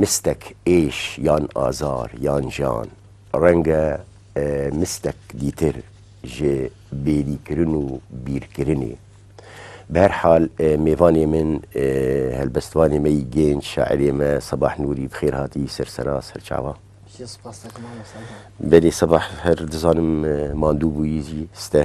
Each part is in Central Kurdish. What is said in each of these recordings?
مستەک ئێش یان ئازار یان ژان ڕەنگە مستەک دیتر ژێ بێری کرن و بیر کرنێ. بە هەر حال مێڤانێ من هەلبەستوانێ مە ی گێنج شاعرێ مە سەباح نووری بخێر هاتی سەر سەرا سەر چاوا. بەلی سەباح هەر دزانم ماندوو بوویی ستە.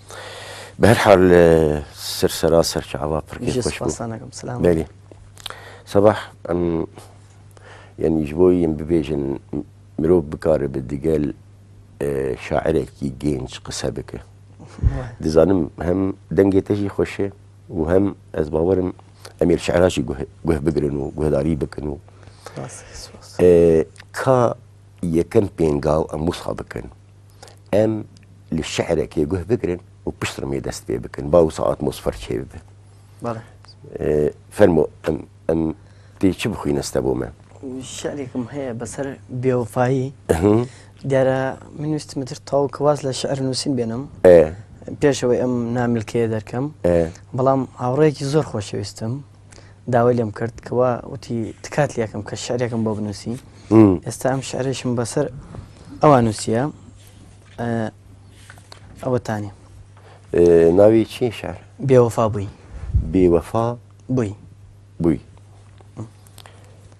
بەرحال سەر سەرا سەرکە ئەوە پڕکەێری سەباح ئەم یعنیش بۆی یم ببێژن مرۆڤ بکارە بە دگەل شاعرێکی گەنج قسە بکە دەزانم هەم دەنگێتەژی خۆشێ و هەم ئەس باوەرم ئەمیر شعراجی گوه بگرن و گوهداری بکەن و کا یەکەم پێنگاو ئەم وسا بکەن ئەم شعرەکەی گوه بگرن و پشتڕمی دەست پێ بکەن با و ساعت مۆسفەر چێ بێت فەرمۆ ئەم ئەم پێی چ بخوی نەستە بۆ من شعرێکم هەیە بەسەر بێوفایی دیارە من ویستمتر تاو کەواز لە شعر نووسین بێنم پێشەوەی ئەم نامیلکەیە دەرکەم بەڵام هاوڕێکی زۆر خۆشەویستم داوای لێم کرد کەوا وتی تکات لەکەم کە شعرێکم بۆ بنووسی ئێستا ئەم شعرێشم بەسەر ئەوە نووسە ئەوەتانی ناوی چی شار بێوەفا بووی بێوەفا بووی بووی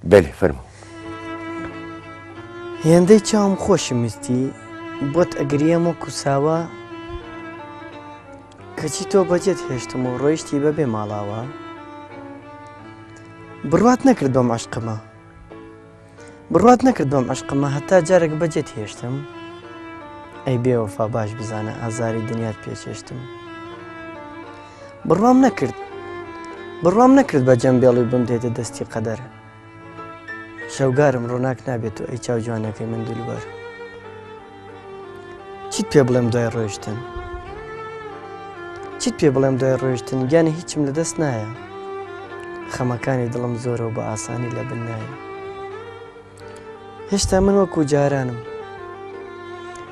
بەێ فەرمو هێندەی چاوم خۆشی مستی بۆت ئەگریەم و کوساوە کەچی تۆ بەجێت هێشتم و ڕۆیشتی بەبێ ماڵاوا بڕوات نەکرد بەم عشقمە بڕوات نەکرد بەم عشقمە هەتا جارێک بەجێت هێشتم ئەی بێوەفا باش بزانە ئازاری دنیات پێچێشتم بڕوام نەکرد بڕوام نەکرد بە جەمبێڵی بم دێتە دەستی قەدەر شەوگارم ڕووناک نابێت تۆ ئەی چاو جوانەکەی من دلوبەر چیت پێ بڵێم دوای ڕۆشتن چیت پێ بڵێم دوای ڕۆشتن گیانی هیچم لە دەست نایە خەمەکانی دڵم زۆرەوە بە ئاسانی لە بن نایە هێشتا من وەکو جارانم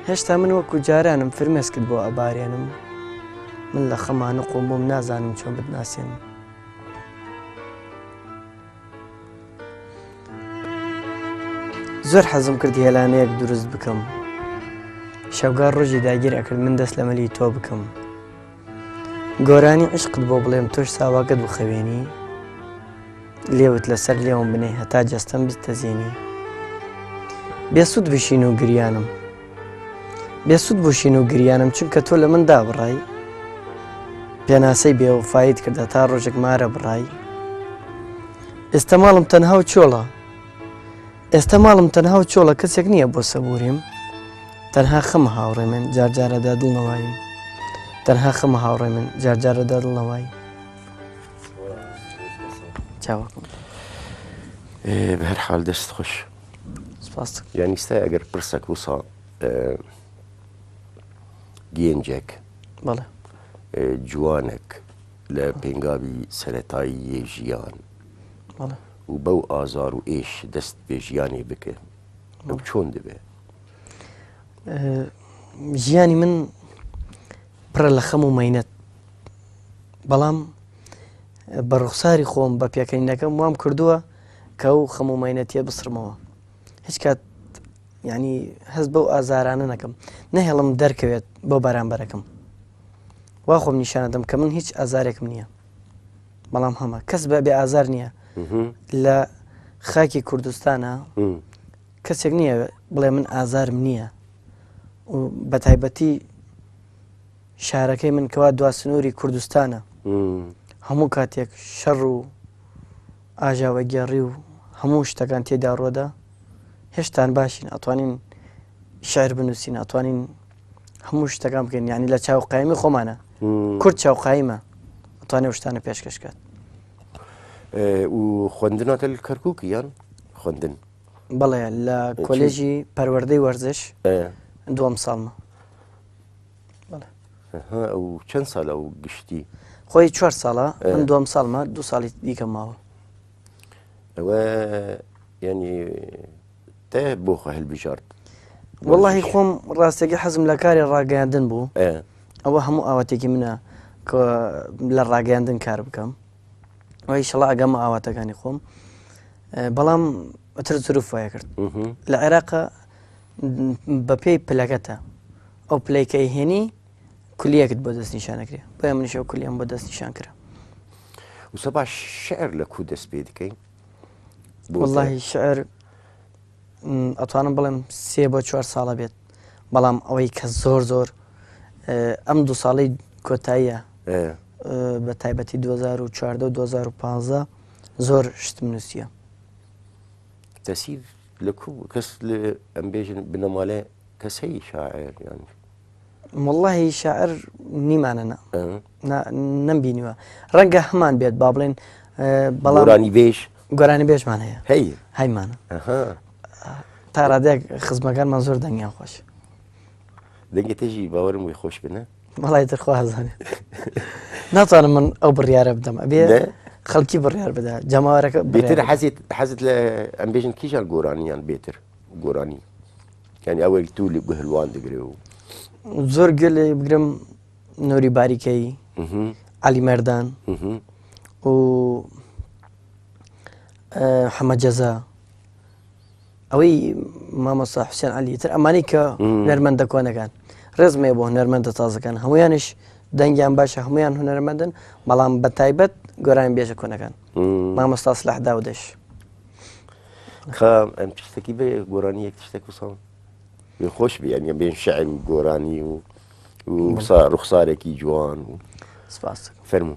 هێشتا من وەکو جارانم فرمێسکت بۆ ئەبارێنم من لە خەمانە قۆم بۆم نازانم چۆن بدناسێنم زۆر حەزم کرد هێلانەیەک دروست بکەم شەوگار ڕۆژی داگیر ئەکرد من دەست لە مەلی تۆ بکەم گۆرانی عشقت بۆ بڵێم تۆش ساواگەت بخەوێنی لێوت لەسەر لێوم بنێ هەتا جەستەم بتەزیێنی بێسوود بشین و گریانم بێ سود بو شین و گریانم چونکە تۆ لە من دابڕای پێناسەی بێوەفایت کردە تا ڕۆژێک مارە بڕای ئێستا ماڵم تەنها و چۆڵە ئێستا ماڵم تەنها و چۆڵە کەسێک نییە بۆ سەبوریم تەنها خەم هاوڕێ من جارجارەدا دڵنەوەیم تەنها خەم هاوڕێ من جارجارەدا دڵنەوەی چاوەکم بە هەر حال دەست خۆش یانی ستای ئەگەر پرسەک وسا گێنجێک جوانێک لە پێنگاوی سەتایی یە ژیان و بەو ئازار و ئێش دەست پێژیانی بکە ئەو چۆن دەبێ ژیانی من پڕە لە خەم و مینەت بەڵام بە ڕوخساری خۆم بە پێکەنینەکەم وام کردووە کە ئەو خەم و مەینەتیە بسڕمەوە هیچ کات ینی هەست بەو ئازارانە نەکەم نەهێڵم دەرکەوێت بۆ بەرامبەرەکەم وا خۆم نیشانە دەم کە من هیچ ئازارێکم نییە بەڵام هەمە کەس بە بێ ئازار نییە لە خاکی کوردستانە کەسێک نییە بڵێ من ئازارم نییە و بە تایبەتی شارەکەی من کەوا دوا سنووری کوردستانە هەموو کاتێک شەڕ و ئاژاوەگێڕی و هەموو شتەکان تێدا ڕۆدا هێشتان باشین ئەتوانین شعر بنووسین ئەتوانین هەموو شتەکان بکەین یعنی لە چاو قایمی خۆمانە کورد چاو قایمە ئەتوانێ شتانە پێشکەشکات و خوندنەکە کەرکک یان خوندن بەڵێ لە کۆلێژی پەروەەردەی وەرزش دوم ساڵمە چەند ساڵە و گشتی خۆی چوار ساڵە من دوم ساڵمە دو ساڵی دیکە ماوە ئەوە ینی تێ بۆ خۆ هەلبژارد وڵی خۆم ڕاستێکی حەزم لە کاری ڕاگەیاندن بوو ئەوە هەموو ئاواتێکی منە کە لە ڕاگەیاندن کار بکەم وای شڵا ئەگەم ئاواتەکانی خۆم بەڵام ئەتر سروف وایە کرد لە عێراقە بەپێی پلەکەتە ئەو پلەی کە ئەیهێنی کولیەکت بۆ دەست نیشان دەکرێت بۆیە منیش ئەو کولیەم بۆ دەست نیشان کرا وسە باش شعر لە کو دەست پێ دکەین واللهی شعر ئەتوانم بڵێم سێ بۆ چوار ساڵە بێت بەڵام ئەوەی کە زۆر زۆر ئەم دوو ساڵی کۆتاییە بە تایبەتی 2014 2015 زۆر شتم نووسە تەسیر لە کوو بوو کەس ئەم بێژن بنەمالێ کەس هەیە شاعر یان واللهی شاعر نیمانە نا نەمبینیوە ڕەنگە هەمان بێت با بڵێن بەڵانی بێژ گۆرانی بێژمان هەیە هەی هەیمانە تا ڕادێک خزمەکانمان زۆر دەنگیان خۆش دەنگێتێژی باوەرم وی خۆش بنە بەڵی ترخوازانێ ناتوانم من ئەو بڕیاە بدەم ئەبێ خەڵکی بڕیار بدا جەماوارەکە بێتر حەزیت حەزت لە ئەم بێژن کیژان گۆرانیان بێتر گۆرانی یعنی ئەوەی تو لە گوهلوان دەگرێ و زۆر گەل بگرم نۆری باریکەی علی مەردان و حەمە جەزا ئەوەی مامۆسا حوسێن علی تر ئەمانی کە نەرمەندە کۆنەکان ڕێزمێ بۆ هەنەرمەندە تازەکان هەمویانش دەنگیان باشە هەمویان هوەرمەندن بەڵام بە تایبەت گۆران بێژە کۆنەکان مامۆستا سلاح داودێش ئەم شتەکی بێ گۆرانی یەک شتێک وسەڵ خۆش بیان یە بێن شعر و گۆرانی و ڕوخسارێکی جوان و سپاس فەرمو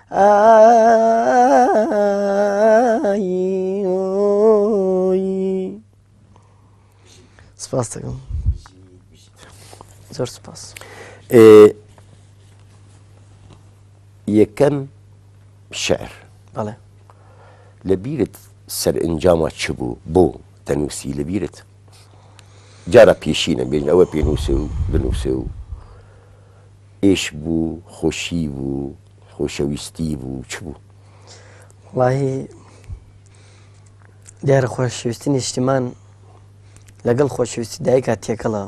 سپاس دەکەم زۆر سپاس یەکەم شعر بەڵێ لە بیرت سەر ئەنجامە چ بوو بۆ دەنووسی لە بیرت جارە پێشینە بێن ئەوە پێنووسێ و بنووسێ و ئێشک بوو خۆشی بوو خۆشەویستی بوو چ بوو؟ وەڵاهی دیارە خۆشەویستی نیشتیمان لەگەڵ خۆشەویستی دایکا تێکەڵە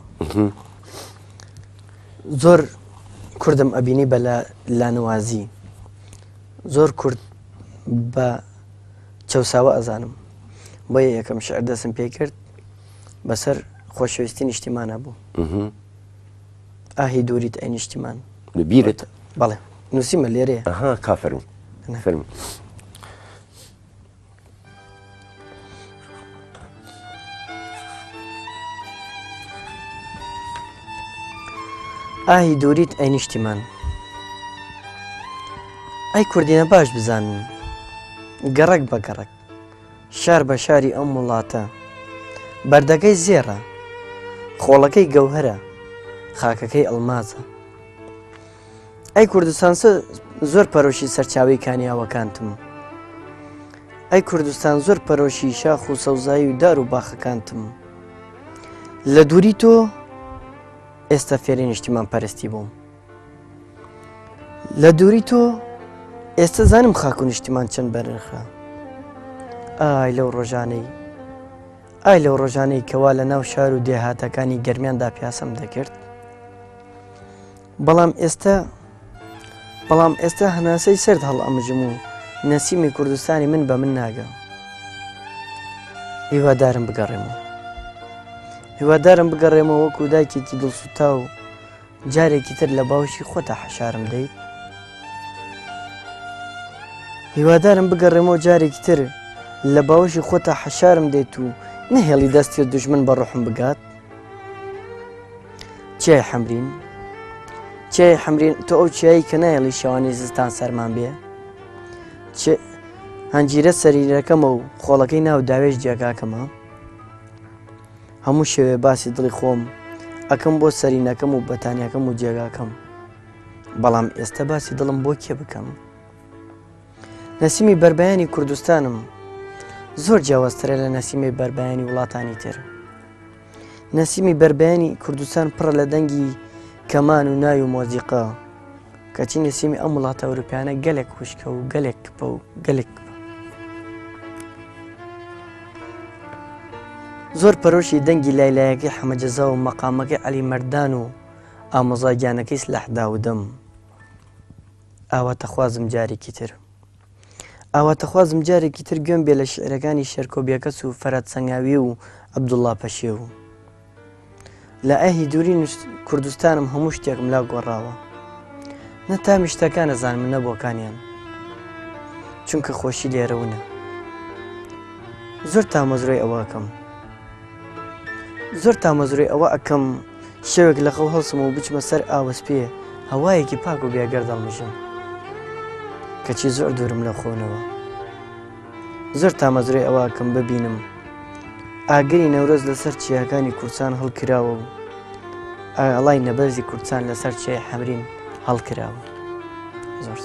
زۆر کوردم ئەبینی بە لە لانەوازی زۆر کورد بە چەساوە ئەزانم بۆ یەکەم شعر دەسم پێ کرد بەسەر خۆشەویستی نیشتیمانە بوو. ئاهی دووریت ئەی نیشتیمان. لە بیرت؟ بەڵێ نووسیمە لێرێ. ئەها کا فەرموو. فەرموو. ئاهی دووریت ئەی نیشتیمان. ئەی کوردینە باش بزانن گەڕک بە گەڕک شار بە شاری ئەم وڵاتە. بەردەکەی زێڕە. خۆڵەکەی گەوهەرە. خاکەکەی ئەڵمازە. ئەی کوردستان زۆر پەرۆشی سەرچاوی کانیاوەکانتم. ئەی کوردستان زۆر پەرۆشی شاخ و سەوزایی و دار و باخەکانتم. لە دووری تۆ ئێستا فێری نیشتیمان پەرستی بووم. لە دووری تۆ ئێستا زانم خاک و نیشتیمان چەند بەرنرخە ئای لەو ڕۆژانەی ئای لەو ڕۆژانەی کەوا لە ناو شار و دێهاتەکانی گەرمیاندا پیاسم دەکرد بەڵام ئێستا بەڵام ئێستا هەناسەی سرد هەڵ ئەمژم و نەسیمی کوردستانی من بە من ناگە هیوادارم بگەڕێمەوە هیوادارم بگەڕێمەوە وەکو دایکێکی دڵسوتا و جارێکی تر لە باوکی خۆتا حەشارم دەیت هیوادارم بگەڕێمەوە جارێکی تر لە باوەشی خۆتا حەشارم دێت و نەهێڵی دەستی و دژمن بە ڕحم بگات چای حەمرین چای حەمرین تۆ ئەو چیایی کە نایڵی شەوانی زستان سەرمان بێ هەنجیرە سەریرەکەمە و خۆڵەکەی ناو داوێش جێگاکەمە هەموو شەوێ باسی دڵی خۆم ئەکەم بۆ سەرینەکەم و بەتانیەکەم و جێگاکەم بەڵام ئێستا باسی دڵم بۆ کێ بکەم نەسیمی بربیانی کوردستانم زۆر جیاوازترە لە نەسیمی بربیانی وڵاتانی تر نەسیمی بربیانی کوردستان پڕە لە دەنگی کەمان و ناوی و مۆزیقا کەچی نووسیمی ئەم وڵاتە ئەوروپیانە گەلێک خوشکە و گەلێک کپە و گەلێک زۆر پەرۆشی دەنگی لای لایەکەی حەمەجەزا و مەقامەکەی علی مەردان و ئامۆزاگیانەکەی سلاح داودەم ئاواتەخوازم جارێکی تر ئاواتەخوازم جارێکی تر گوێم بێ لە شیعرەکانی شێرکۆ بێکەس و فەرەد سەنگاوی و عەبدوڵڵا پەشێو. لە ئه دووری نوست کوردستانم هەموو شتێکم لا گۆڕاوە. نە تامی شتەکان ئەزانم نە بۆکانیان. چونکە خۆشی لێرە ونە. زۆر تامەزرۆی ئەوە ئەکەم. زۆر تامەزرۆی ئەوە ئەکەم شەوێک لە خەو هەڵسم و بچمە سەر ئاوەسپێ هەوایەکی پاک و بێگەر دەڵمژم کەچی زۆر دوورم لە خۆنەوە زۆر تامەزرۆی ئەوواکەم ببینم ئاگری نەورۆز لەسەر چیاکانی کورسان هەڵکراوە بوو ئاڵای نەبەرزی کورسان لەسەر چێ حەمرین هەڵکراوە زۆر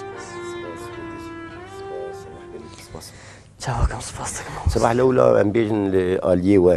چاوەکەم سپاس دەکەم سبح لەولا ئەم بێژن لە ئالیەوە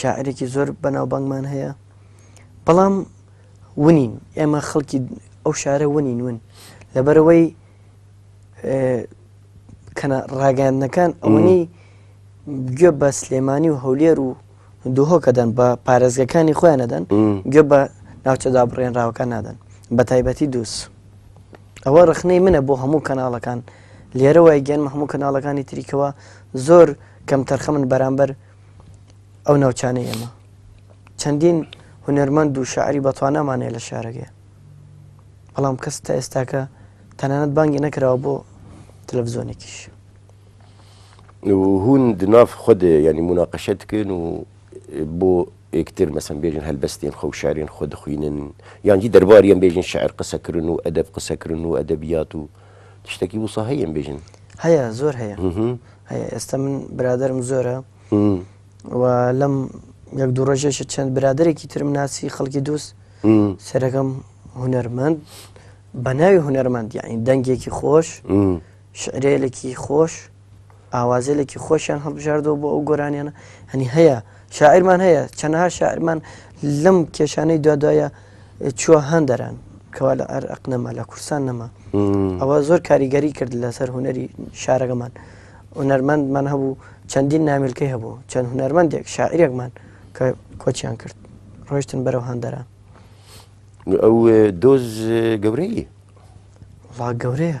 شاعرێکی زۆر بەناوبانگمان هەیە بەڵام ونین ئێمە خەڵکی ئەو شارە ونین ون لەبەرەوەی کەە ڕاگەاندنەکان ئەوەی گوێ بە سلێمانی و هەولێر و دوهۆکەدەن بە پارێزگەکانی خۆیان نەدەن گوێ بە ناوچەدا بڕێنراوەکان نادەن بە تایبەتی دووس ئەوە ڕخنەی منە بۆ هەموو کەناڵەکان لێرەوەی گەنمە هەموو کەناڵەکانی تریکەوە زۆر کەم تەرخەمن بەرامبەر ئەو ناوچانەی ئێمە چەندین هونەرمەند و شاعری بەتوانامان هەیە لە شارەکەی بەڵام کەس تا ئێستاکە تەنانەت بانگی نەکراوە بۆ تەلەڤزۆنێکیش هون دناف خود ینی مناقەشت کرد و بۆ ئێکتر مەسم بێژن هەلبەستێن خەو شارێن خۆ دخوینن یانجی دەرباریان بێژن شعر قسەکردن و ئەدەب قسەکردن و ئەدەبیات و تشتەکی وسە هەیەم بێژن هەیە زۆر هەیە هەیە ئێستا من برادرم زۆرە و لەم یەک دوو ڕۆژێشە چەند برادێکی ترم ناسی خەڵکی دووست سەرەکەم هوەرمەند بە ناوی هوەرمەند یعنی دەنگێکی خۆش شعرێلێکی خۆش ئاوازێلێکی خۆشیان هەڵبژاردەوە بۆ ئەو گۆرانیانە هەنی هەیە شاعرمان هەیە چەنەها شاعرمان لەم کێشانەی دوادایە چوە هەن دەران کەوا لە ئەر ئەق نەما لە کورسان نەما ئەوە زۆر کاریگەری کرد لەسەر هوەری شارەکەمان هونەرمەندمان هەبوو چەندین نامیلکەی هەبوو چەند هونەرمەندێک شاعرێکمان کە کۆچیان کرد ڕۆشتن بەرەو هەندەران ئەو دۆز گەورەی ڵا گەورەیە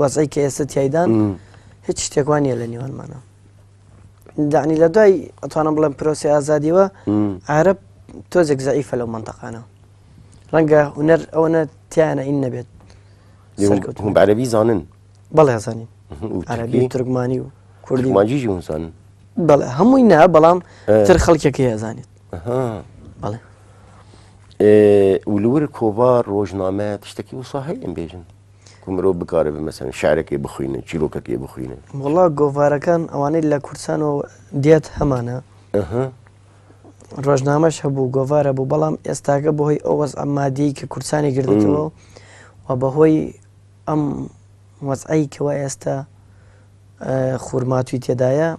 وەزعی کە ئێستا تایدان هیچ شتێک وانە لە نێوانمانە دانی لە دوای ئەتوانم بڵێم پرۆسی ئازادیوە عرب تۆزێک زعیفە لەو منتەقانە ڕەنگە هوەر ئەوەنە تیانە ئین نەبێت هم عربی زانن بەڵێ زانین عربی ترکمانی و کوردی ماجیژی هونسان بەڵێ هەمووی نا بەڵام تر خەڵکێکی هەزانێت بەڵێ ولور کۆڤار ڕۆژنامەت شتێکی وسا هەیە بێژن مرۆڤ بکارێ بمەسەن شارەکەی بخوینن چیرۆکەکەی بخوینن وڵا گۆڤارەکان ئەوانەی لە کوردستانەوە دێت هەمانە ڕۆژنامەش هەبوو گۆڤارە بوو بەڵام ئێستاگە بەهۆی ئەو وەز ئەمادی کە کورسانی گردێتەوە و بەهۆی ئەم وەزعی کەوا ئێستا خورماتوی تێدایە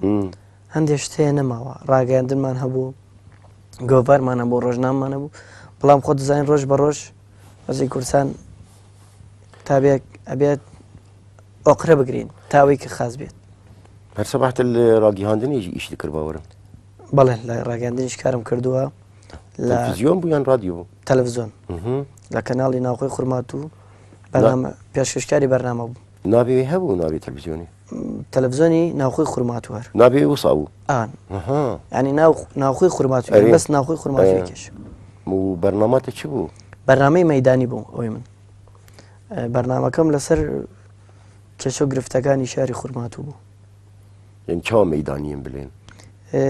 هەندێک شتەیە نەماوە ڕاگەاندنمان هەبوو گۆڤارمانە بۆ ڕۆژنامانە بوو بەڵام خۆ دەزانین ڕۆژ بە ڕۆژ وەزی کورسان تابێک ئەبێت ئۆقرە بگرین تاوەی کە خاز بێت هەرسە بەحتە لە ڕاگیهاندنیش ئیش کرد باوەرم بەڵێ لە ڕاگەاندنیش کارم کردووە لە زیۆن بوویان ڕادیۆ تەلەڤزیۆن لە کەناڵی ناوخۆی خورمات و بەنامە پێشکەشکاری بەرنامە بوو ناوی وی هەبوو ناوی تەلەفزیۆنی؟ تەلەفزیۆنی ناوخۆی خورماتوار. ناوی وسا بوو؟ ئان. ئەها. یانی ناو ناوخۆی خورماتوار ئەرێ. بەس ناوخۆی خورماتوێکێش. و بەرناماتی چ بوو؟ بەرنامەی مەیدانی بوو ئەوی من. ئە، بەرنامەکەم لەسەر کێشە و گرفتەکانی شاری خورماتوو بوو. یانی چاوا مەیدانیین بلێن؟ ئە،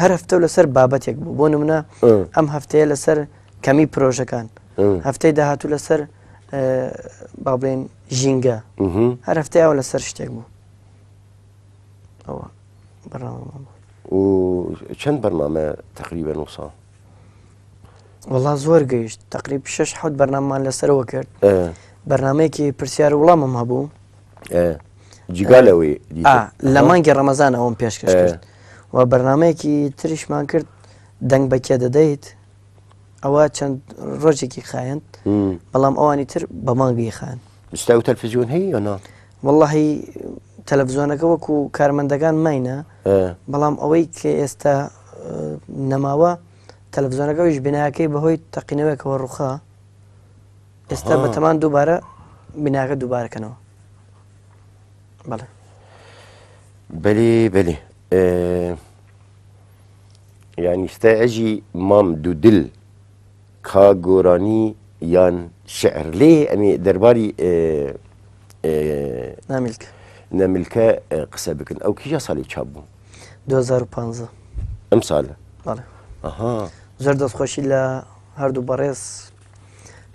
هەر هەفتە و لەسەر بابەتێک بوو. بۆ نمونە ئە. ئەم هەفتەیە لەسەر کەمی پرۆژەکان. ئە. هەفتەی داهاتوو لەسەر ئە، با بڵێین. ژینگە هەر هەفتەی ئەو لەسەر شتێک بوو ئەوە بەڕامان بوو و چەند بەرنامە تقریبە نو ساڵ وڵا زۆر گەیشت تقریب شش حوت بەرناممان لەسەرەوە کرد بەرنمەیەکی پرسیار وڵامم هەبوو جیگا لەوەی لە مانگی ڕەمەزان ئەوم پێشکەش کرد و بەرنمەیەکی تریشمان کرد دەنگ بەکێ دەدەیت ئەوە چەند ڕۆژێکی خایەن بەڵام ئەوانی تر بە مانگی خان ستا و تەلفزیۆن هەیە یۆنا واللهی تەلەڤزیۆنەکە وەکو کارمەندەکان ماینە بەڵام ئەوەی کە ئێستا نەماوە تەلەڤزیۆنەکەویش بناکەی بەهۆی تەقینەوەکەوە ڕوخە ئێستا بە تەمان دووبارە بناکە دووبارەکەنەوە بەڵێ بەێ بەێ یانی ستای عەژی مام دودل کا گۆرانی یان شعر لێ ئەمی دەرباری نامیلکە نەملکە قسە بکن ئەو کیژە ساڵی چاپ بوو 2015 ئەم ساڵە بەڵێ ئەها زۆر دەستخۆشی لە هەردوو بەڕێز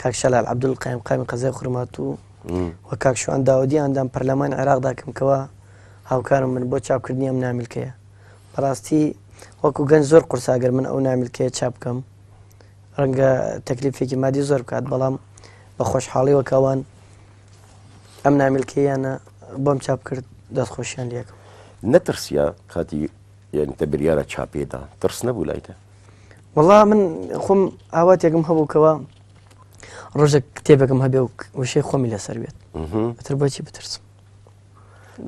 کاک شەلال عبدول قایم قامی قەزای خورمات و و کاک شوان داودی ئەندام پەرلەمانی عێراقدا کەمکەوە هاوکارم بن بۆ چاپکردنی ئەم نامیلکەیە بەڕاستی وەکو گەنج زۆر قورسە گەر من ئەو نامیلکەیە چاپ بکەم ڕەنگە تەکلیفێکی مادی زۆر بکات بەڵام بە خۆشحاڵی وەکەوان ئەم نامیلکەیانە بۆم چاپ کرد دەست خۆشیان لەکەم نەترسیا کاتی یعنی تە بریارە چاپێدا ترس نەبوو لایتە وڵا من خۆم ئاواتێکم هەبووکەوە ڕۆژە کتێبەکەم هەبێ و وشەی خۆمی لەسەر بێت تر بۆچی بترسم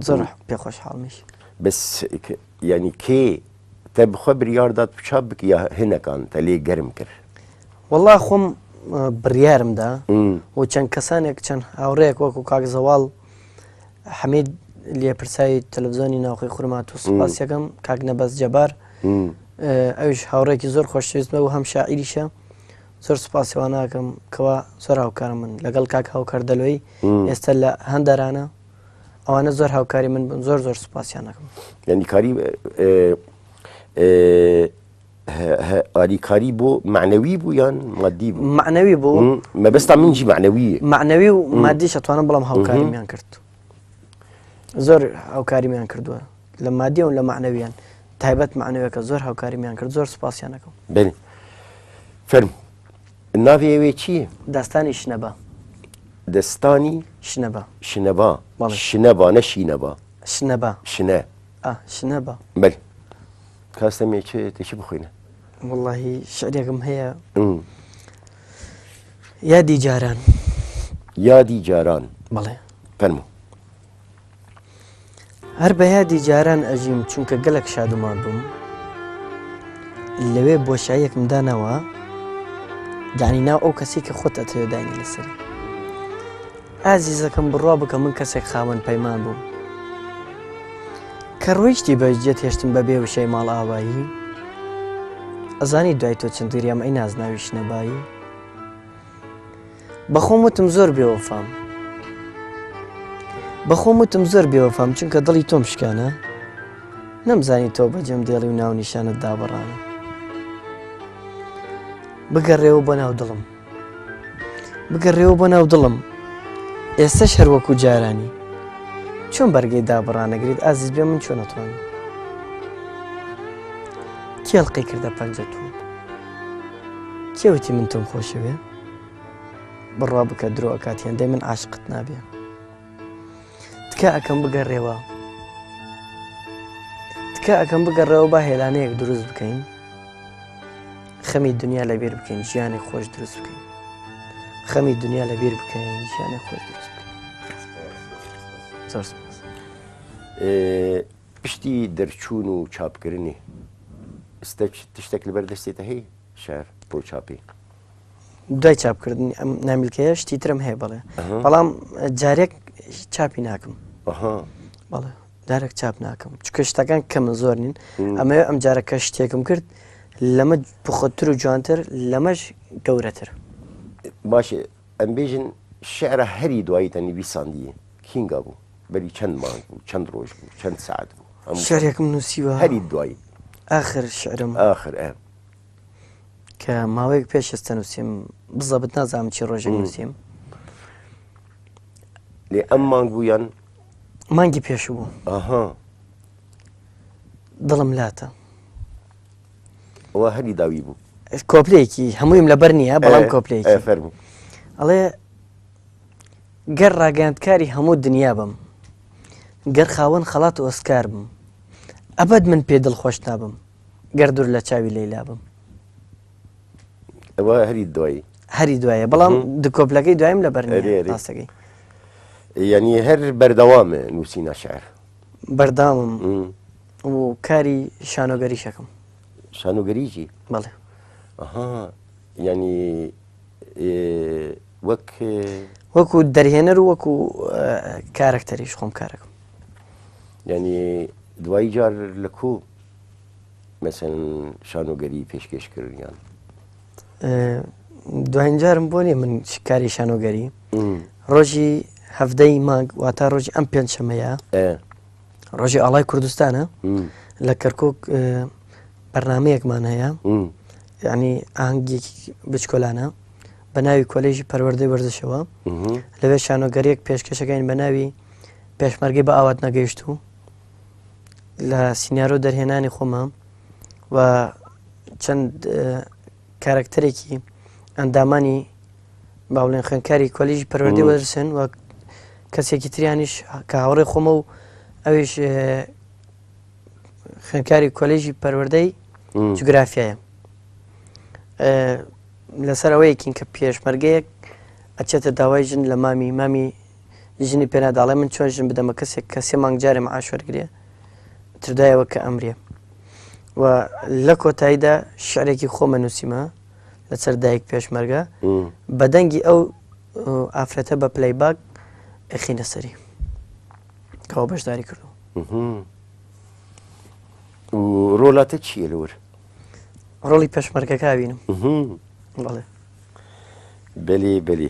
زۆر پێ خۆشحاڵمیش بس ینی کێ تە بخوا بریاردات بچا بک یا هەنەکان تە لێ گەرم کرد والله خۆم بڕیارمدا و چەند کەسانێک چەند هاوڕێک وەکو کاک زەواڵ حەمید لێپرسایی تەلەڤزیۆنی ناوخی خورمات و سوپاسەکەم کاک نەبەست جەبار ئەوش هاوڕێکی زۆر خۆشویستمە و هەم شاعیریشە زۆر سوپاسی وا ناکەم کەوا زۆر هاوکارم من لەگەڵ کاک هاوکار دەلۆی ئێستا لە هەندەرانە ئەوانە زۆر هاوکاری من بن زۆر زۆر سوپاسیان ناکەم یعنی کاری ئاریکاری بۆ معنەوی بوو یان مادی بوو معنەوی بوو مەبستا منجی معنەوی معنەوی و مادی شتوانم بڵام هاوکاریان کرد زۆر هاوکاریان کردووە لە مادیەوە لە مەعنەویان تایبەت مەعنەویەکە زۆر هاوکاریمیان کرد زۆر سوپاسیان ئەکەم. بەێ فەرموو ناوی ئەوێ چییە؟ داستانی شنەبا. دەستانی شنەبا شنەبا بەڵێ. شنەبا نە شینەبا شنەبا شنە ئا شنەبا بەێ کاستە مێ چێ تێکی بخۆینە وڵی شعرێکم هەیە ئم. یادی جاران یادی جاران بەڵێ فەرموو. هەر بە یادی جاران ئەژیم چونکە گەلک شادومان بووم لەوێ بۆشاییەکم دانەوە دانی ناو ئەو کەسی کە خۆت ئەتەوێ دانی لەسەر ئازیزەکەم بڕوا بکە من کەسێک خاوەن پەیمان بووم کە ڕۆیشتی بەجدێت هێشتم بە بێ وشەی ماڵ ئاوایی ئەزانی دوای تۆ چندگریام ئەی نازناویش نەبایی بەخۆم وتم زۆر بێوەفام بەخۆم وتم زۆر بێوەفام چونکە دڵی تۆم شکانە نەمزانی تۆ بەجێم دێڵی و ناو نیشانت دابڕانە بگەڕێەوە بۆ ناو دڵم بگەڕێەوە بۆ ناو دڵم ئێستا شەروەکو جارانی چۆن بەرگەی دابڕانەگریت ئازیز بێ من چۆنەتوان کێڵقی کردە پەنجەتون کێوتی من تۆم خۆشەوێ بڕوا بکە درۆ ئەکات هێندەی من عاشقت نابێ تکا ئەەکەم بگەڕێەوە تکا ئەەکەم بگەڕێەوە با هێلانەیەک دروست بکەین خەمی دنیا لەبیر بکەین ژیانی خۆش دروست بکەین خەمی دنیا لەبیر بکەین ژیانی خۆش دروست بکەین زۆر سپاس. ئێ، پشتی دەرچوون و چاپکردنی ئستەک تشتێک لەبەر دەستێتە هەی شار بۆ چاپی دوای چاپکردنی ئەم نامیلکەیە شتی ترم هەیە بڵێ بەڵام جارێک چاپی ناکەم بەڵێ دارێک چاپ ناکەم چکە شتەکان کەمە زۆر نین ئەمە ئەم جارەکە شتێکم کرد لەمە بخۆتر و جوانتر لەمەش گەورەتر باشێ ئەمبێژن شعرە هەری دوایی تەنی بیساندیە کینگا بوو بەری چەند مانگ بوو چەند ڕۆژ بوو چەند سعات بوو ئەم شارێکم نووسیوە هەری دوایی آخر شعرم آخر ئەم کە ماوەیەک پێش ئێستا نووسیم بزەبت نازانم چی ڕۆژێک نووسیم لێ ئەم مانگ بوو یان مانگی پێش بوو ئاها دڵم لاتە ئەوە هەلی داوی بوو کۆپلێکی هەموویم لەبەر نییە بەڵام کۆپلێکی فەر بوو ئەڵێ گەر ڕاگەاندکاری هەموو دنیا بم گەر خاوەن خەڵات ئۆسکار بم ئەبەت من پێ دڵ خۆش نابم گەر دوور لە چاوی لەیلا بم ئەوە هەری دوایی هەری دوایە بەڵام دکۆپلەکەی دوایم لە بەرنێراستەکەی یعنی هەر بەردەوامە نووسی ناشعر بەردامم و کاری شانۆگەری شەکەم شانۆگەریی بەڵێ ینی وەک وەکو دەرهێنەر و وەکو کارەکتەریش خۆم کارەکەم ینی دوایی جار لە کوو مەسەن شانۆگەری پێشکەشکردیان دوایینجارم بۆ نیە من کاری شانۆگەری ڕۆژی هەفتدەی مانگ واتا ڕۆژی ئەم پێنج شەمەیە ڕۆژی ئاڵای کوردستانە لە کەرکک بەرنمەیەکمان هەیە ینی ئاهنگێکی بچکۆلانە بە ناوی کۆلێژی پەروەردەی وەرزشەوە لەوێ شانۆگەریەک پێشکەشەکەین بە ناوی پێشمەرگی بە ئاوات نەگەیشت و لە سینناەرۆ دەرهێنانی خۆمە و چەند کارکتەرێکی ئەندامانی باڵێن خوێنکاری کۆلیژ پەروەردی وەرسن و کەسێکی تریانیش کە هاوڕێ خۆمە و ئەویش خوێنکاری کۆلیژی پەروەەردەی جوگرافایە لەسەر ئەوەیەکین کە پێشمەرگەیەک ئەچێتە داوای ژن لە مامی مامی ژنی پێ ناداڵێ من چۆن ژن بدەمە کەسێک کە سێ مانگ جارێ معاش وەرگێ تردایەوە کە ئەمرێ و لە کۆتاییدا شعرێکی خۆمە نووسیمە لەسەر دایک پێشمەرگە بەدەنگی ئەو ئافرەتە بە پلەی باگ ئەخینە سەری کەەوە بەشداری کردو ڕۆلاتە چیە لەور ڕۆڵی پێشمەرگەکە بینم بەڵێ بەلی بەلی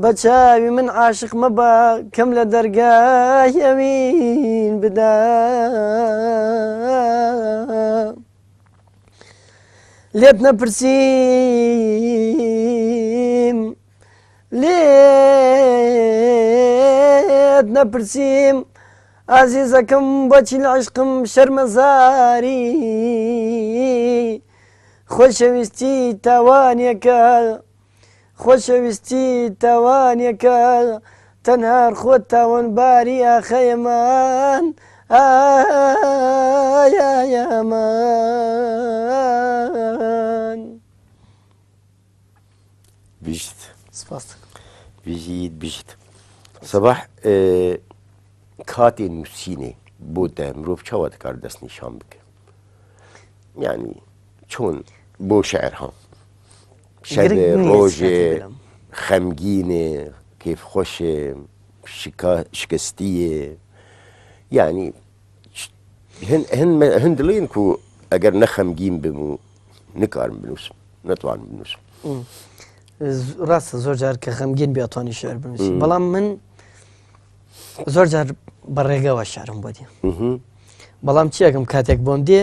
بە چاوی من عاشق مەبە کەم لە دەرگای ئەوین بدا لێت نەپرسیم لێت نەپرسیم ئازیزەکەم بەچی لە عشقم شەرمەزاری خۆشەویستی تاوانەکە خۆشەویستی تاوانێکە تەنها خۆت تاوانباری ئاخەیەمان ئایەمان بیشت سپاس بژیت بیشت سەباح کاتێ نووسینێ بۆ دە مرۆڤ چاوە دەکار دەست نیشان بکە یعنی چۆن بۆ شعر هەڵ شەبێ ڕۆژێ خەمگینێ کیف خۆشێ شکستیێ یعنی هەندڵین و ئەگەر نەخەمگین بم و نکارم بنووسم نەتوان بنووسم ڕاستە زۆر جار کە خەمگین بێتوانی شعر بنووسی بەڵام من زۆر جار بە ڕێگەوە شارم بۆ دێ بەڵام چیەکەم کاتێک بۆم دێ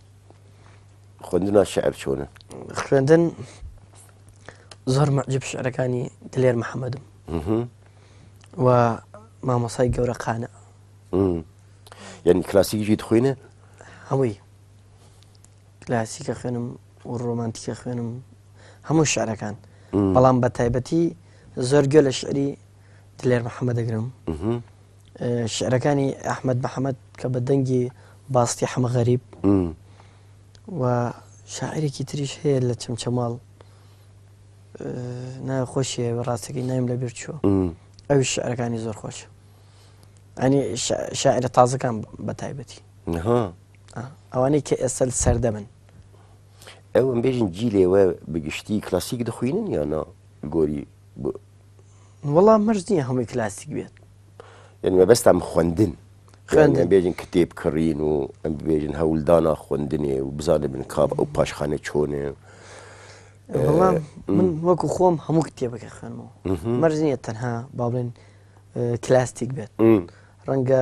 خوندنا شعر چۆنە خوێندن زۆر مەجب شعرەکانی دلێر محەممەدم و مامۆسای گەورە قانە یعنی کلاسیکیی خوێنە هەمووی کلاسیکە خوێنم و ڕۆمانتیکە خوێنم هەموو شعرەکان بەڵام بە تایبەتی زۆر گوێ لە شعری دلێر محەممە دەگرم شعرەکانی ئەحمەد محەمەد کە بە دەنگی باستی حەمە غەریب و شاعرێکی تریش هەیە لە چەمچەماڵ ناوی خۆشیە ڕاستەکەی نایم لە بیر چوە ئەوی شعرەکانی زۆر خۆش ئەنی شاعرە تازەکان بە تایبەتی ئەوانەی کە ئێستا سەردەمن ئەوم بێژین جی لێوە بگشتی کلاسیک دەخوینن یانە گۆری وەڵام مەرج نییە هەمووی کلاسیک بێت یعنی مەبەستم خوێندن خوێندن. یعنی بێژن کتێب کڕین و ئەم بێژن هەولدانا خوێندنێ و بزانێ بن کاب ئەو پاشخانە چۆنێ وەڵام من وەکو خۆم هەموو کتێبەکە خوێنمەوە مەرج نییە تەنها با بڵێن اه، کلاسیک بێت ڕەنگە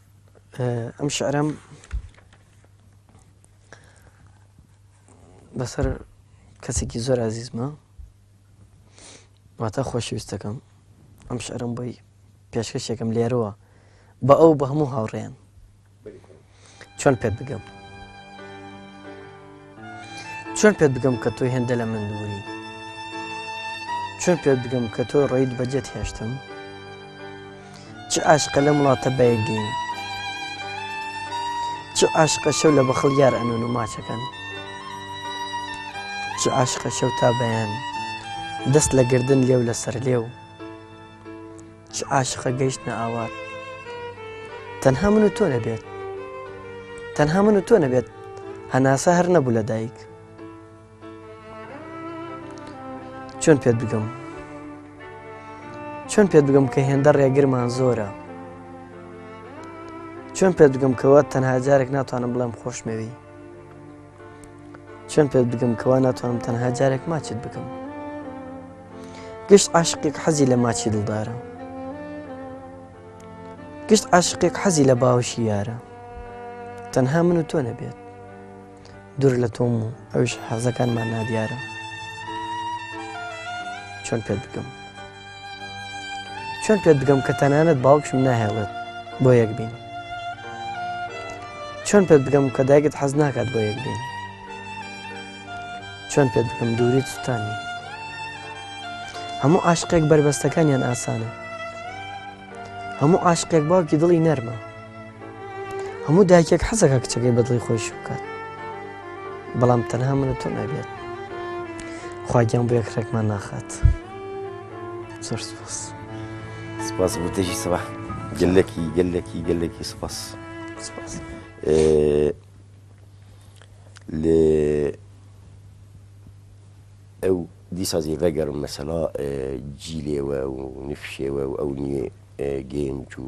ئەم شعرەم بەسەر کەسێکی زۆر ئازیزمە واتە خۆشویستەکەم ئەم شعرم بۆی پێشکەشێکم لێرەوە بە ئەو بە هەموو هاوڕێن چۆن پێت بگەم چۆن پێت بگەم کە تۆی هێندە لە من دووری چۆن پێت بگەم کە تۆ ڕێیت بەجێت هێشتم چ ئاشقە لەم وڵاتە بەیەکگەین چ ئاشقە شەو لە بەخڵ یار ئەنون و ماچەکەن چ ئاشقە شەو تا بەیان دەست لە گردن لێو لەسەر لێو چ عاشقە گەیشتنە ئاوات تەنها من و تۆ نەبێت تەنها من و تۆ نەبێت هەناسە هەر نەبوو لە دایک چۆن پێت بگەم چۆن پێت بگەم کە هێندە ڕێگرمان زۆرە چۆن پێت بگەم کەوە تەنها جارێک ناتوانم بڵێم خۆشمەوی چۆن پێت بگەم کەوا ناتوانم تەنها جارێک ماچت بکەم گشت عاشقێک حەزی لە ماچی دڵدارە گشت عاشقێک حەزی لە باوشی یارە تەنها من و تۆ نەبێت دوور لە تۆم و ئەوش حەزەکانمان نادیارە چۆن پێت بکەم چۆن پێت بگەم کە تەنانەت باوکشم ناهێڵێت بۆ یەک بین چۆن پێت بگەم کە دایکت حەز ناکات بۆ یەک بین چۆن پێت بکەم دووری سووتانی هەموو عاشقێک بەربەستەکانیان ئاسانە هەموو عاشقێک باوکی دڵی نەرمە هەموو دایکێک حەزەکە کچەکەی بەدڵی خۆش بکات بەڵام تەنها منە تۆ نابێت خواگیان بۆ یەکڕێکمان ناخات زۆر سپاس سپاس بۆ دژی سەبا گەلەکی گەلەکی گەلەکی سپاس سپاس لێ ئەو دیسازی ڕێگەرم مەسەلا جیلێوە و نفشێوە و ئەو نیێ گەنج و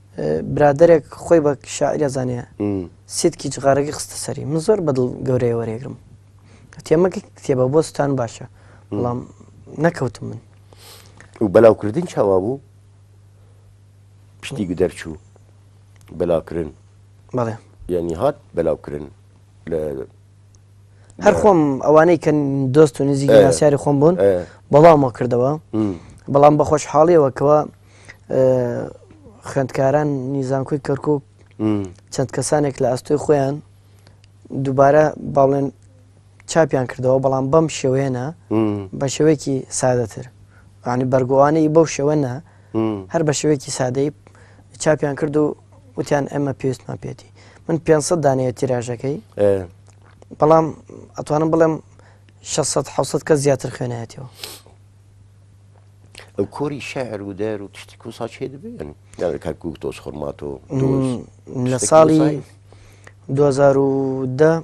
برادەرێک خۆی بە شاعیر ئەزانێ سیتکی جغارەکەی خستە سەری من زۆر بەدڵ گەورەیە وەرێگرم تێمەکە کتێبە بۆ ستان باشە بەڵام نەکەوتم من و بەلاوکردن چاوا بوو پشتی دەرچوو بەلاکردن بەڵێ یعنی هات بەلاوکردن لە هەر خۆم ئەوانەی کە دۆست و نزیکی ناسیاری خۆم بوون بەڵامەوە کردەوە بەڵام بەخۆش حاڵیەوە کەەوە خوێندکاران نیزانکۆی کەرکک چەند کەسانێک لە ئەستۆی خۆیان دووبارە باڵێن چاپیان کردەوە بەڵام بەم شێوێنە بە شێوەیەکی سادەتر ینی بەرگوانەی بەو شێوەنە هەر بە شێوەیەکی سادەی چاپیان کرد و وتیان ئێمە پێستمان پێێتی من 500 دانەیە تیراژەکەی بەڵام ئەتوانم بڵێم 600 کە زیاتر خوێنایەتەوە ئەو کۆری شعر و دەر و تشتی کوسا چێ دەبێن کاکو تۆز خۆرماتۆ لە ساڵی 2010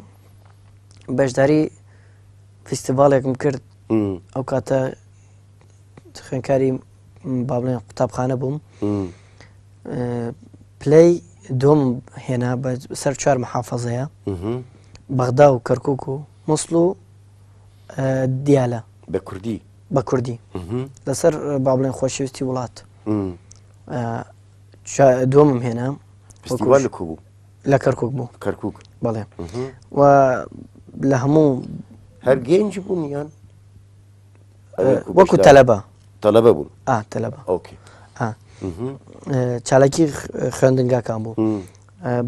بەشداری فیستیڤالێکم کرد ئەو کاتە خوێنکاری با بڵێن قوتابخانە بووم پلی دۆم هێنا بە سەر چوار محافەزەیە بەغدا و کەرکک و مسل و دیالە بە کوردی بە کوردی لەسەر با بڵێن خۆشەویستی وڵات دومم هێنا بوو لە کەرکک بوو کەرکک بەڵێ و لە هەموو هەر گەنج بوون یان وەکو تەلەبە تەلەبە بوون تەلەبە ئۆکی چالاکی خوێندنگاکان بوو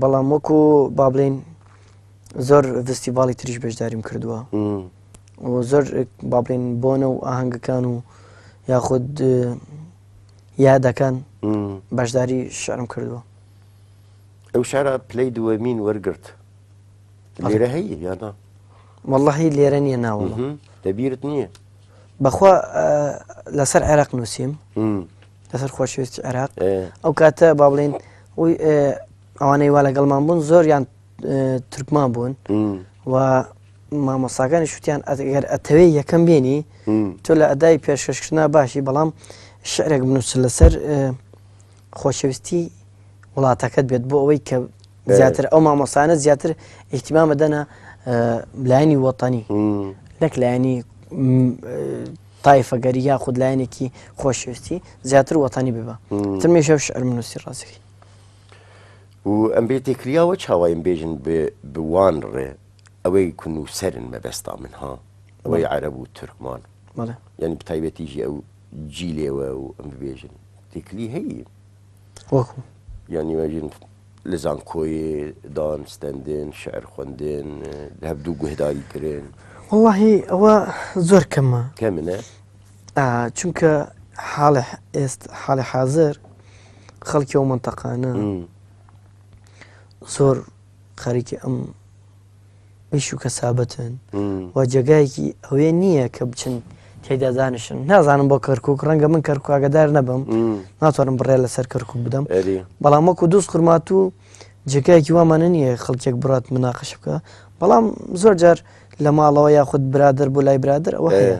بەڵام وەکو با بڵین زۆر ڤستیڤاڵی تریش بەشداریم کردووە زۆر با بڵێن بۆنە و ئاهەنگەکان و یاخود یادەکان بەشداری شارم کردووە ئەو شارە پلەی دووەمین وەرگرت لێرە هەیە یادا واللهی لێرە نییە ناوە دەبیرت نییە بەخوا لەسەر عێراق نووسیم لەسەر خۆشویست عێراق ئەو کاتە با بڵین ئەوانەی وا لەگەڵمان بوون زۆریان ترکمان بوون و مامۆساکانی شوتیان ئەگەر ئەتەوێ یەکەم بێنی تۆ لە ئەدای پێشکەشکردنا باشی بەڵام شعرێک بنووس لەسەر خۆشەویستی وڵاتەکەت بێت بۆ ئەوەی کە زیاتر ئەو مامۆسانە زیاتر ئیحتیمامە دەنا لایانی وەتانی نەک لایانی تایفەگەری یا خود لایەنێکی خۆشویستی زیاتر وەتانی ببە ترمێشە شعر منوسی ڕاستەکەی و ئەم بێتێ کریا وە چاوایم بێژن ب ب وان ڕ ئەوەی ک نووسەرن مەبەستا من ها ئەوەی بەڵێ عەرەب و تورکمان بەڵێ یانی بە تایبەتیژی ئەو جیلێ وە و ئەم ببێژن تێکلی هەیی وەکو یانی وەژن لە زانکۆیێ دان ستەندن شعر خوەندن ە هەڤدوو گوهداری کرن وەڵاهی ئەوە زۆر کەمە کەمنە؟ چونکە حاڵە ئێست حاڵە حازر خەڵکی ئەو منتەقانە زۆر خەریکی ئەم ئیش و کەسابەتن و جێگایەکی ئەوێ نییە کە بچن تێدا دانیشن نازانم بۆ کەرکک ڕەنگە من کەرکواگەدار نەبم ناتوانم بڕێ لەسەر کەرکک بدەم بەڵام وەکو دوست خورمات و جێگایەکی وامانە نییە خەڵکێک بڕات مناقش بکە بەڵام زۆر جار لە ماڵەوە یاخود برادر بۆ لای برادر ئەوە هەیە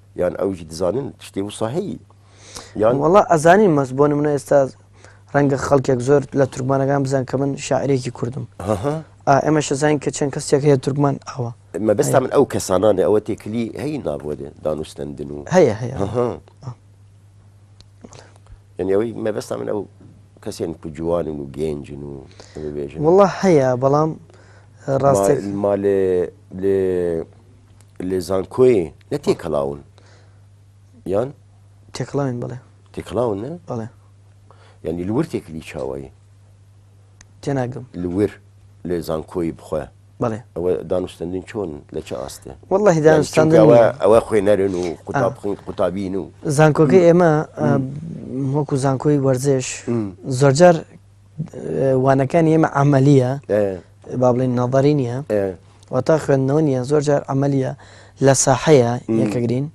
یان ئەویش دزانن شتێ و ساهەیی یان وڵا ئەزانین مەس بۆ منە ئێستا ڕەنگە خەڵکێک زۆر لە تورکمانەکان بزان کە من شاعرێکی کوردم ئێمە شەزانین کە چەند کەسێک هەیە تورکمان ئەوە مەبستا من ئەو کەسانانێ ئەوە تێکلی هەی نابووە دێ دانوستندن و هەیە هەیە یعنی ئەوەی مەبستا من ئەو کەسێن کو جوانن و گەنجن و بێژن وڵا هەیە بەڵام ڕاستێک مالێ لێ لە زانکۆیێ نە تێکەڵاون یان تێکڵاوین بڵێ تێکڵاون نە بڵێ ینی لور تێکلی چاوایی تێناگەم لور لە زانکۆی بخۆە بڵێ ئەوە دانوستندن چۆن لە چ ئاستێ والله دانوستان ئەوە خوێ نەرن و قوتاب بخین قوتابین و زانکۆکە ئێمە وەکو زانکۆی وەرزش زۆرجار وانەکانی ئێمە عملیە با بڵین نەڵدەری نیە وەتا خوێندنەوە نیە زۆر جار عملیە لە ساحەیە یەکەگرین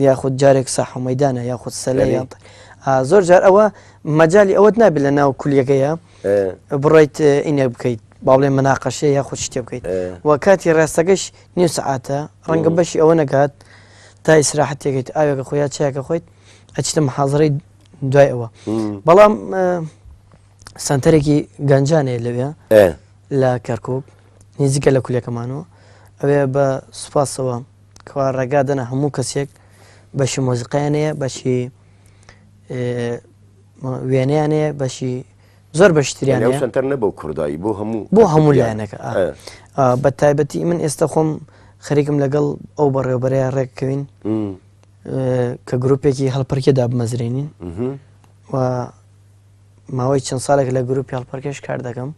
یاخود جارێک ساحمەدانە یاخود سەلە زۆر جار ئەوە مەجای ئەوەت نابێت لە ناو کولیەکەیە بڕیت ئینە بکەیت با بڵێ مناقەشە یا خود شتێ بکەیت و کاتی ڕاستەکەش نیو سعاتە ڕەنگە بەشی ئەوە نەکات تا ئیسراحەتێکیت ئاوێکە خۆیان چاکە خۆیت ئەچتم حەزڕی دوای ئەوە بەڵام سنتەرێکی گەنجانێ لەوێ لە کەرکک نزیکە لە کولەکەمانەوە ئەوێ بە سوپاسەوە کەوا ڕێگا دەنا هەموو کەسێک بەشی مۆزیقیانەیە بەشی وێنیانەیە بەشی زۆر بەشتریان سنتەر نەبوو کوردایی بۆ هەموو بۆ هەموو لایەنەکە بە تایبەتی من ئێستا خۆم خەریکم لەگەڵ ئەو بەڕێوبەرەیە ڕێککەوین کە گرروپێکی هەڵپەرکێ دابمەزرێنین و ماوەی چەند ساڵێک لە گرروپی هەڵپەرکێش کار دەکەم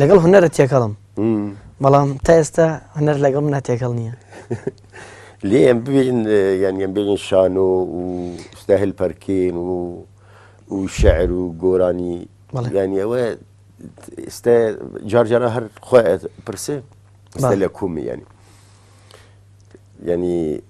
لەگەڵ هەنەرە تێکەڵم بەڵام تا ئێستا هەنەر لەگەڵ منە تێکەڵ نییە لێم ببین یانیان بێنین شان و ستا هەلپەرکین و و شعر و گۆرانی ینی ئەوە ئێستا جارجارە هەر خۆ پرسێ لە کومی ینی ینی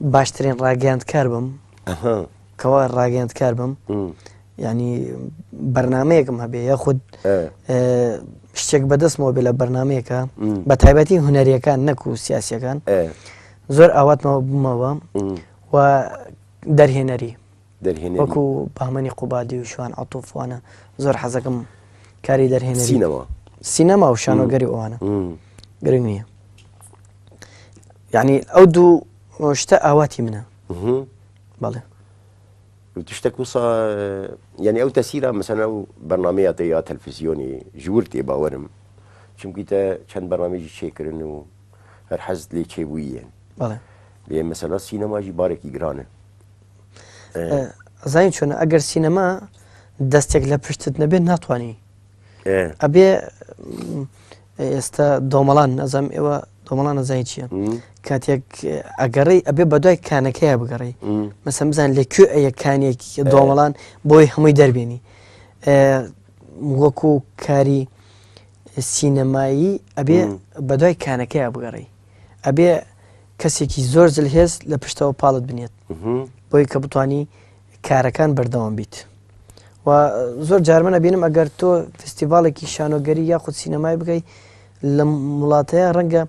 باشترین ڕاگەیاندکار بم کەوا ڕاگەیاندکار بم ینی بەرنمەیەکم هەبێ یاخود شتێک بەدەستمەوە بێ لە بەرنمەیەەکە بە تایبەتی هوەریەکان نەک و سیاسەکان زۆر ئاواتمەوە بمەوە و دەرهێنەری دەرهێنەری. وەکو بەهمەنی قوبادی و شوان عەتوف وانە زۆر حەزەکەم کاری دەرهێنەری. سینەما. سینەما و شانۆگەری وانە گرنگ نیە. یعنی ئەو دوو شتە ئاواتی منە. بەڵێ. تشتێک وسا یعنی ئەو تەسیرە مەسەنە و بەرنمەیە یا تەلفزیۆنی ژور تێ باوەرم چونکیتە چەند بەرنمێکی چێکردن و هەر حەزت لێ چێبوویەن بەڵێ بێ مەسەلا سینەماژی بارێکی گرانە زین چۆنە ئەگەر سینەما دەستێک لە پشتت نەبێت ناتوانانی ئەبێ ئێستا دۆمەڵان نەزەم ئێوە دۆمەڵان نەزای چییە کاتێک ئەگەڕی ئەبێ بەدوای کانەکەیە بگەڕی مەسم بزان لە کوێ ئەیە کانێکی دۆمەڵان بۆی هەمووی دەربێنی وەکو کاری سینەمایی ئەبێ بەدوای کانەکەیە بگەڕی ئەبێ کەسێکی زۆر زلهێز لە پشتەوە پاڵت بنێت بۆی کە بتانی کارەکان بەردەوام بیت و زۆر جارمەە بینم ئەگەر تۆ فستیڤالێکی شانۆگەری یاخود سینەمای بگەی لە وڵاتەیە ڕەنگە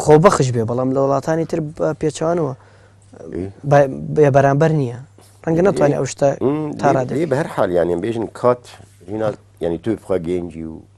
خۆبەخش بێ بەڵام لە وڵاتانی تر پێچوانەوە بێ بەرامبەر نییە ڕەنگە ناتوانێت ئەو شتە تاڕادی بە هەر حالیانیان بێژن کات ینی توی بخوا گەنجی و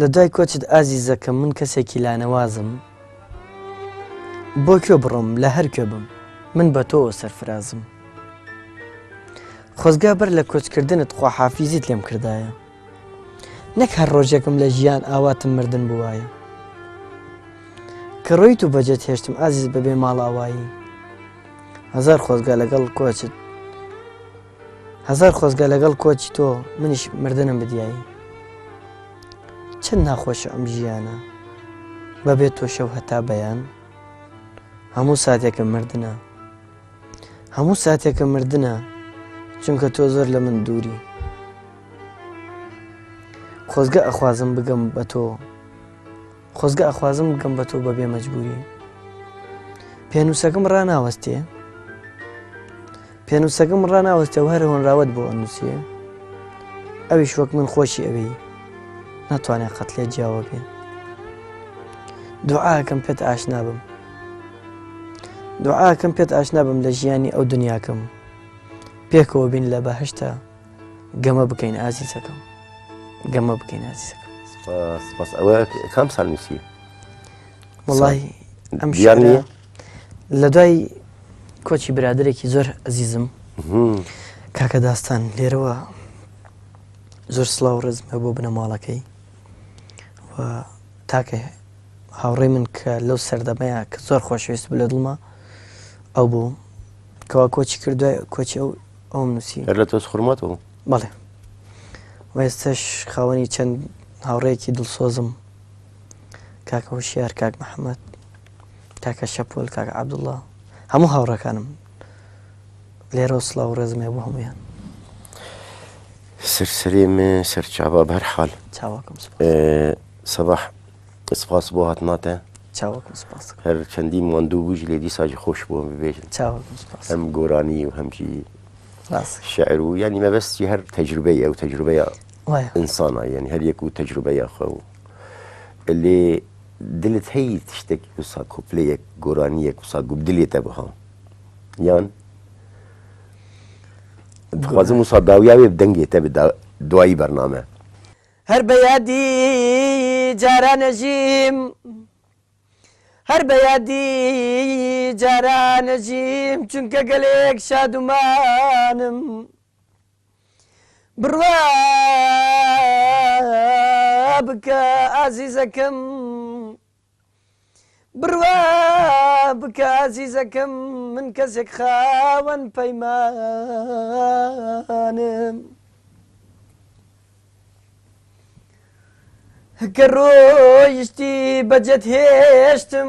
لە دوای کۆچت ئازیزەکەم من کەسێکی لانەوازم بۆ کوێ بڕۆم لە هەر کوێ بم من بە تۆوە سەرفرازم خۆزگا بەر لە کۆچکردنت خواحافیزیت لێم کردایە نەک هەر ڕۆژێکم لە ژیان ئاواتم مردن بووایە کە ڕۆیت و بەجێت هێشتم ئازیز بەبێ ماڵاوایی هزار خۆزگا لەگەڵ کۆچت هەزار خۆزگە لەگەڵ کۆچی تۆ منیش مردنم بدیایی چەند ناخۆشە ئەم ژیانە بەبێت تۆ شەو هەتا بەیان هەموو ساتێکە مردە هەموو ساتێکە مردە چونکە تۆ زۆر لە من دووری خۆزگە ئەخوازم بگەم بە تۆ خۆزگە ئەخوازم بگەم بە تۆ بەبێ مەجبوری پێنووسەکەم ڕناوەستێ پێنووسەکەم ڕناوەستێ و هەر هۆنراوت بۆ ئەنووسێ ئەویش وەک من خۆشی ئەوی ناتوانێت قەت لێ جیاوە بێ دوعاکەم پێت ئاشنا بم دوعاکەم پێت ئاشنا بم لە ژیانی ئەو دنیاکەم پێکەوە بین لە بەهشتا گەمە بکەین ئازیزەکەم گەمە بکەین ئازیزەکەم سپاس ئەوە کام سال نووسی وڵی ئەم ژیان نیە لە دوای کۆچی برادێکی زۆر ئەزیزم کاکە داستان لێرەوە زۆر سلااو ڕزمە بۆ بنەماڵەکەی و تاکە هاوڕێ من کە لەو سەردەمەیە کە زۆر خۆشویست بلە دڵمە ئەو بوو کەوا کۆچی کردو کۆچی ئەو ئەوم نووسی هەر لە تۆز خورمەتەوە بەڵێ وێستش خاوەنی چەند هاوڕێکی دڵسۆزم کاکە هوشیار کاک محەممەد کاکە شەپۆل کاک عبدوڵڵا هەموو هاوڕەکانم لێرە سڵاو و ڕێزمێ بۆ هەمویان سەرسەرێ من سەرچاوا بەرحال چاواکەم سپاس. سەباح سپاس بۆ هاتناتە. چاوەکم سپاس ئەکەم. هەر چەندی ماندوو بوویش لێ دیساژی خۆش بۆم ببێژن. چاوەکم سپاس. هەم گۆرانی و هەم ژی. ڕاست. شعر و یانی مەبەستی هەر تەجروبەی ئەو تەجروبەیە. وایە. ئینسانە یانی هەر یەک و تەجروبەیە خۆ و لێ دلت هەی تشتێک وسا کۆپلەیەک گۆرانیەک وسا گوو دلێتە بها یان دخوازم وسا داویاێ دەنگێتە بدا دوایی بەرنامە. هەر بە یادی جارانەژیم هەر بە یادی جارانەژیم چونکە گەلێک شادومانم بڕوا بکە ئازیزەکەم بڕوا بکە ئازیزەکەم من کەسێک خاوەن پەیمانم کە ڕۆیشتی بەجێت هێشتم